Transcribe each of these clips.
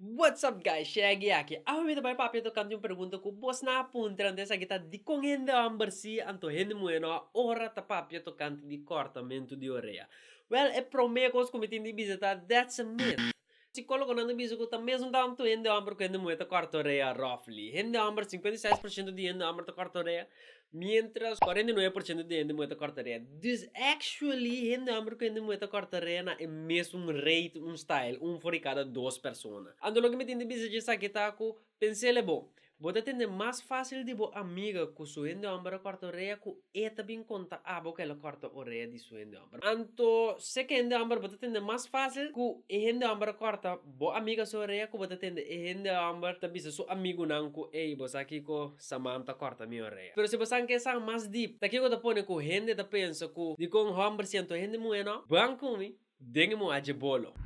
What's up guys Shaggy aki. Awe mi ta bai papia tokante un pregunta ku bosnan a puntra anto esaki ta dikon hende homber si anto hende muhe no a ora ta papia tokante di kortamentu di orea. Well e prome kos ku mi tin di bisa ta that's a myth. Sikologonan ta bisa ku ta mesun tantu hende homber ku hende muhe ta korta orea roughly. Hende homber sinkuenta i seis por shento di hende homber ta korta orea mientras cuarenta y nueve por ciento di hende muhé ta corta rea. Dus actually hende homber cu hende muhé ta corta rea na e mesun rate un style, un for di cada dos persona. Anto loke mi tin di bisa dje esaki ta cu, pensele bo, bo ta tende mas facil di bo amiga cu su hende homber a corta orea cu e ta bin conta abo cu el a corta orea di su hende homber. Anto seke hende homber bo ta tende mas facil cu e hende homber a corta Bo a miga Soraya ku bo ta tende e hende hòmber ta bisa su amigunan ku ey bo sa kiko Samantha kòrta mi orea. Pero si bo san ke san mas deep ta kiko ta pone ku hende ta pensa ku dikon hòmber siento hende muhé nò? Bang ku mi den e muhá dje bolo.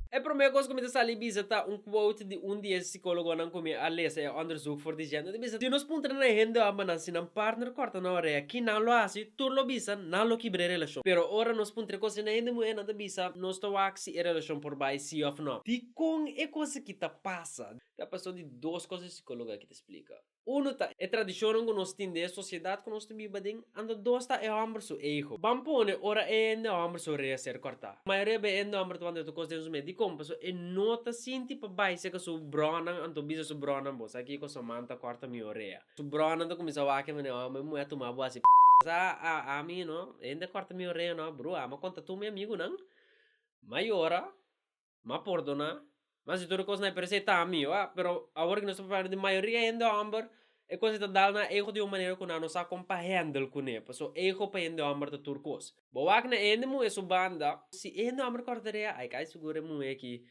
E promé kos ku mi ta sali bisa ta un quote di un di e sikólogonan ku mi a lesa e òndersuk for di dje. Nan ta bisa si nos puntra na e hende hòmbernan si nan partner kòrta nan orea kinan lo hasi. Tur lo bisa, nan lo kibra e relashon. Pero ora nos puntra e kos na hende muhé, nan ta bisa, Nos ta wak si e relashon por bai sí òf nò. Dikon e kos akí ta pasa? Ta paso di dos kos e sikólogo akí ta splika. Unu ta, e tradishonnan ku nos tin den e sosiedad ku nos ta biba den, anto dos ta e hòmber su ego. Ban pone ora e hende hòmber su rea ser kòrtá. Mayoria b'e hende hòmber ta wand'é otro kos den su mes. Dikon? Paso e no ta sinti pa bai seka su brònan anto bisa su brònan, Bo sa kiko? Samantha kòrta mi orea. Su bronan ta cuminsa wak e mane, oh, mi muhe a tuma bo asi p***. Sa a ami no, hende a corta mi oreha no, brua, ma conta tur mi amigunan, ma yora, ma pordona, ma si tur e cos na e percee ta ami, oa, pero awor nos ta papia di mayoria hende homber e cos ei ta dal na ego di un manera cu nan no sa con pa handle cune, pasobra ego pa hende homber ta tur cos. Bo wak na e hende muhe su banda, si e hende homber corta oreha, ay cay sigur e muhe aki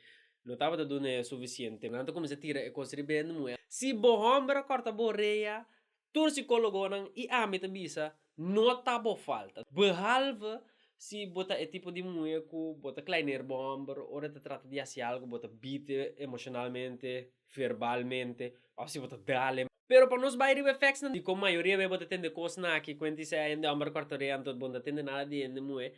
Lo tabata duna e sufisiente. Nan ta kuminsá tira e kos riba e muhé. Si bo hòmber a kòrta bo orea, tur sikólogonan i ami ta bisa, no ta bo falta. Behalve si bo ta e tipo di muhé ku bo ta klaineer bo hòmber ora e ta trata di hasi algu, bo ta bite emoshonalmente, verbalmente òf si bo ta dal'e. Pero pa nos bai riba e fèksnan dikon mayoria bo ta tende kosnan aki, kuenti se hende hòmber a kòrta orea anto bo no ta tende nada di hende muhé,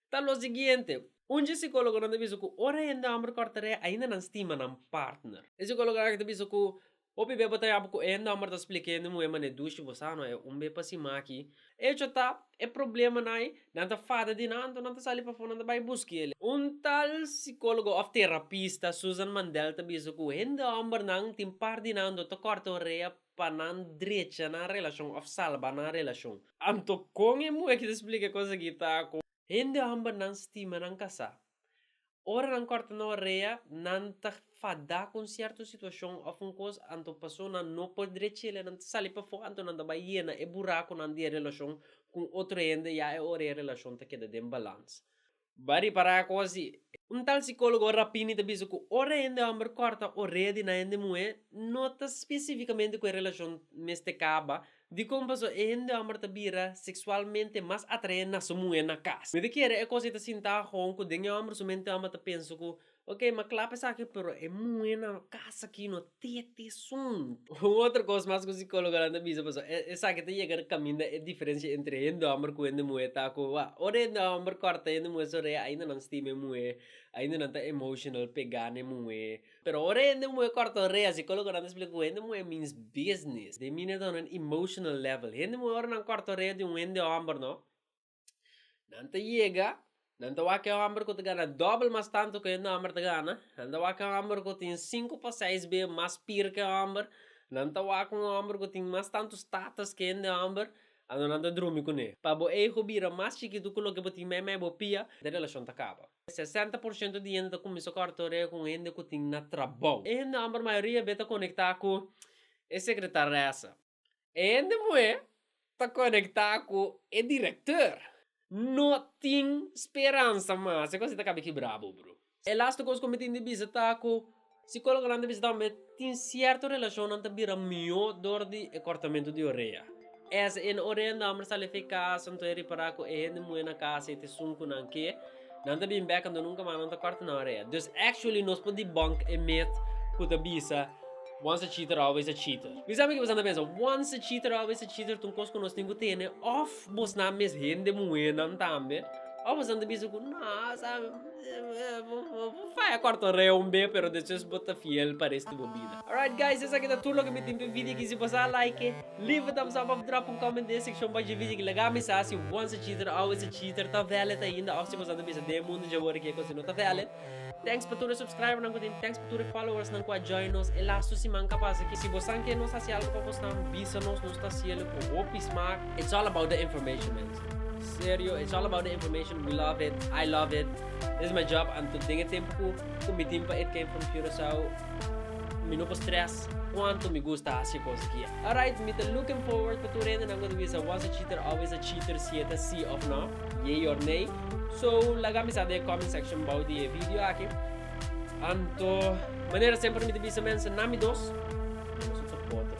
Ta lo siguiente, Un dje psicólogonan ta bisa cu ora hende homber corta ree ainda nan stima nan partner. E psicólogo aki ta bisa cu Hopi bey bo ta yapo cu e hende homber ta splica e hende muher manera dushi, bo sa no e un bey pa si maki. Hecho ta, e problemanai, nan ta fada di nan anto nan ta sali pafó nan ta bay busca ele. Un tal psicólogo of terapista, Susan Mandel, ta bisa cu hende hombernan tin par di nan anto ta corta un rea pa nan drecha nan relashon òf salba nan relashon. Anto kon e muhé ki ta splika e kos akí ta ku. Hende hòmber nan stima nan kasá. Ora nan kòrta nan orea, nan ta fadá ku un sierto situashon òf un kos, anto pasonan no por drecha el, nan ta sali pafó anto nan ta bai yena e burakunan di e relashon ku un otro hende, ya e ora e relashon ta keda den balans. Ba ripará kos di. Un tal sikólogo Rapini ta bisa ku ora hende hòmber kòrta orea di nan hende muhé no ta spesifikamente ku e relashon mester kaba, dikon pasó e hende hòmber ta bira seksualmente mas atraé na su muhé na kas. Mi ta kere e kos ei ta sintá hòn ku den e hòmber su mente hòmber ta pensa ku Ok m'a klap esaki pero e muhe nan lo kas aki no tete sun. Un otro kos mas ku sikologonan ta bisa paso e esaki ta yega na kaminda e diferensia entre hende hòmber ku hende muhe ta ku wak ora hende hòmber kòrta hende muhe su rea ainda nan stima e muhe ainda nan ta emotional pega n'e muhe pero ora hende muhe kòrta su rea sikologonan ta splika ku hende muhe means business de mina ta honan emotional level hende muhe ora nan kòrta su rea di un hende hòmber no Nan ta yega, nan ta wak e hòmber ku ta gana dòbel mas tantu ku e hòmber ta gana, nan ta wak e hòmber ku tin sinku pa seis be mas pir ku e hòmber, nan ta wak un hòmber ku tin mas tantu status ku hende hòmber, anto nan ta drumi kuné. Pa bo ego bira mas chikitu ku loke bo tin meimei bo pia, e relashon ta kaba. Sesenta por shento di hende ta kuminsá kòrta orea ku un hende ku tin na trabou. E hende hòmber mayoria be ta konektá ku e sekretaresa. E hende muhé ta konektá ku e direktor. No tin speransa mas, e kos ei ta kabe kibrá bo bro. E lastu kos ku mi tin di bisa ta ku sikólogonan ta bisa tambe tin sierto relashonnan ta bira mihó dor di e kòrtamentu di orea. Es en orea nan por sali efekas, anto e ripará ku e hende muhé na kas ei ta esun ku nan ke. Nan ta bin bek anto nunka mas nan ta kòrta nan orea. Dus actually nos por debunk e myth ku ta bisa once a cheater always a cheater. Mi sa mi ke pasan ta pensa, once a cheater always a cheater ta un kos ku nos tin ku tene òf bosnan mes hende muhénan tambe òf bosan ta bisa ku no sa bo faya kòrta orea un be pero despues bo ta fiel pa restu bo bida. Alright guys esaki ta tur loke mi tin p'e video kisi. Pasa a like. Live ta msa pa bo tra pun comment den seccion bajo video ki laga misa si once a cheater always a cheater ta valid ainda of si boso a ta bisa den mundo dje worde ki e cosa no ta valid. Thanks pa tur e subscriber nan ku tin thanks pa tur e followers nan ku a join nos e las tu siman ka pasa aki si bo san ke nos hasi algo pa bos nan bisa nos nos ta hasielo ku hopi smak. It's all about the information mens serio it's all about the information we love it I love it this is my job anto den e tempo ku ku mi tin pa it came from Curaçao. Mi no por stress cuanto mi gusta haci e cos aki. Alright, mi ta looking forward pa tur hende nan cu ta bisa a was a cheater, always a cheater si e ta si of no, yay or nay. So, laga mi sabi e comment section bou di e video aki. Anto, manera semper mi ta bisa mensen, na mi dos, nosotros cuatro.